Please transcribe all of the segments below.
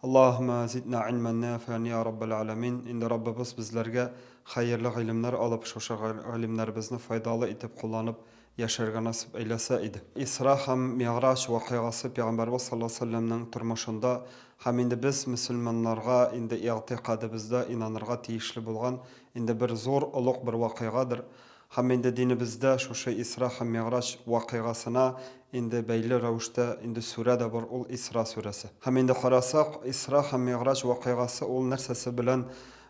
Аллаһума зидна ильман нафиан йа раббал әләмин, инде Раббыбыз безләргә хәерле гыйлемнәр алып, шушы гыйлемнәребезне файдалы итеп кулланып яшәргә насыйп әйләсә иде. Исра һәм Мигъраҗ вакыйгасы Пәйгамбәрбез саллаллаһу галәйһи ва сәлләмнең тормышында һәм инде без мөселманнарга инде игътикадыбызда инанырга тиешле булган инде бер зур, олуг бер вакыйгадыр. Һәм инде динебездә шушы Исра һәм Мигъраҗ вакыйгасына инде бәйле рәвештә инде сүрә дә бар, ул Исра сүрәсе. Һәм инде карасак, Исра һәм Мигъраҗ вакыйгасы ул нәрсәсе белән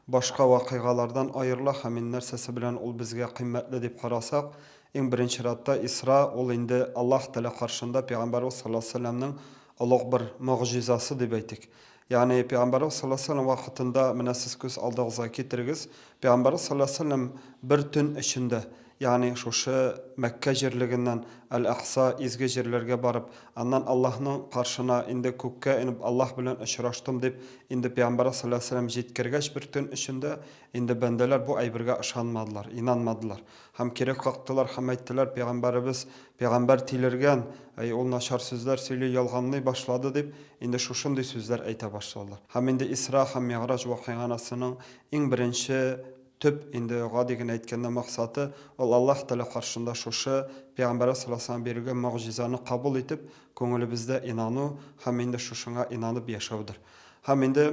башка вакыйгалардан аерыла һәм ин нәрсәсе белән ул безгә кыйммәтле дип карасак, иң беренче чиратта Исра ул инде Аллаһ Тәгалә каршында пәйгамбәребез саллаллаһу галәйһи ва сәлләмнең олуг бер могҗизасы дип әйтик. Ягъни, Пәйгамбәрбез салләллаһу галәйһи ва сәлләм вакытында, менә сез күз алдыгызга китерегез, Пәйгамбәрбез салләллаһу галәйһи ва сәлләм бер төн эчендә, ягъни шушы Мәккә җирлегеннән Әл-Әкъса, изге җирләргә барып, аннан Аллаһның каршына, инде күккә инеп, Аллаһ белән очраштым дип, инде Пәйгамбәрбез салләллаһу галәйһи ва сәлләм җиткергәч бер төн эчендә, инде бәндәләр бу әйбергә ышанмадылар, инанмадылар. Һәм кире кактылар һәм әйттеләр, Пәйгамбәребез пәйгамбәр тилергән, әй, ул начар сүзләр сөйли, ялганлый башлады, дип, инде шушындый сүзләр әйтә башладылар. Һәм инде Исра һәм Мигъраҗ вакыйганасының иң беренче, төп, инде гади генә әйткәндә максаты, ул Аллаһ Тәгалә каршында шушы Пәйгамбәребез саллаллаһу алейһи ва салләмгә бирелгән могҗизаны кабул итеп, күңелебездә инану һәм инде шушыңа инанып яшәүдер. Һәм инде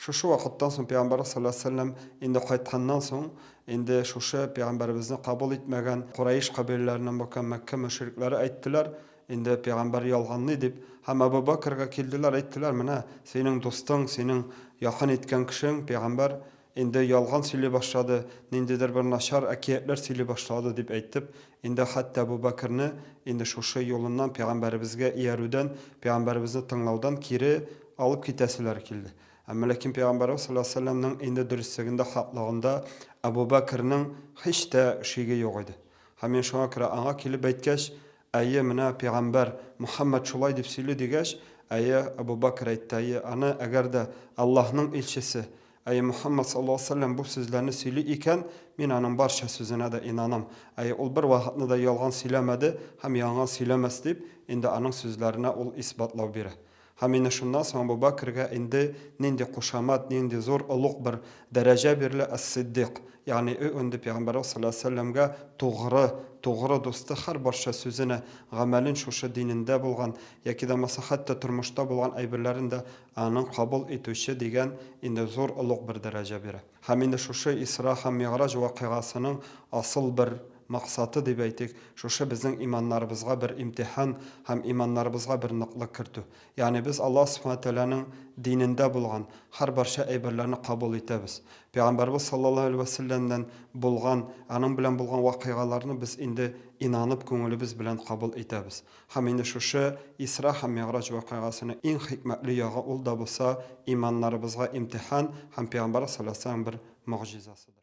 шушы вакыттан соң пәйгамбәрбез салләллаһу алейһи ва сәлләм инде кайтканнан соң, инде шушы пәйгамбәребезне кабул итмәгән Корәеш кабиләләреннән булган Мәккә мөшрикләре әйттеләр, инде пәйгамбәр ялганлый дип, һәм Әбү Бәкергә килделәр, әйттеләр, менә синең дустың, синең якын иткән кешең, пәйгамбәр Инде ялган сөйли башлады, ниндидер бер начар әкиятләр сөйли башлады, дип әйтеп, инде хәтта Әбу Бәкерне инде шушы юлыннан, пәйгамбәребезгә иярүдән, пәйгамбәребезне тыңлаудан кире алып китәселәре килде. Әмма ләкин пәйгамбәребез салләллаһу галәйһи ва сәлләмнең инде дөреслегендә, хаклыгында Әбу Бәкернең һич тә шиге юк иде. Һәм менә шуңа күрә аңа килеп әйткәч, Әйе, менә пигамбәр, Мөхәммәд шулай дип сөйли, дигәч, әйе, Әбү Бәкер әйтте, әйе, аны, әгәр дә Аллаһның илчесе, әйе, Мөхәммәд саллаллаһу галәйһи ва сәлләм бу сүзләрне сөйли икән, мин аның барча сүзенә дә инанам, әйе, ул бер вакытны да ялган сөйләмәде һәм янган сөйләмәс, дип, инде аның сүзләренә ул исбатлау бирә. Һәм менә шуннан соң Әбу Бәкергә инде нинди кушамат, нинди зур, олуг бер дәрәҗә бирелә, Әс-Сиддыйк, ягъни ө нде Пәйгамбәребез салләллаһу галәйһи ва сәлләмгә тугры, тугры дусты, һәрбарча сүзенә, гамәлен шушы динендә булган, яки дә булмаса хәтта тормышта булган әйберләрен дә аның кабул итүче дигән инде зур, олуг бер дәрәҗә бирә. Һәм инде шушы Исра һәм Мигъраҗ вакыйгасының асыл бер максаты, дип әйтик, шушы безнең иманнарыбызга бер имтихан һәм иманнарыбызга бер ныклык кертү. Ягъни без Аллаһ Субхана Тәгаләнең динендә булган һәрбарча әйберләрне кабул итәбез. Пәйгамбәрбез саллаллаһу алейһи вә сәлләмнән булган, аның белән булган вакыйгаларны без инде инанып күңелебез белән кабул итәбез. Һәм инде шушы Исра һәм Мигъраҗ вакыйгасының иң хикмәтле ягы ул да булса, иманнарыбызга имтихан һәм Пәйгамбәр салләллаһу галәйһи ва сәлләм бер могҗизасыдыр.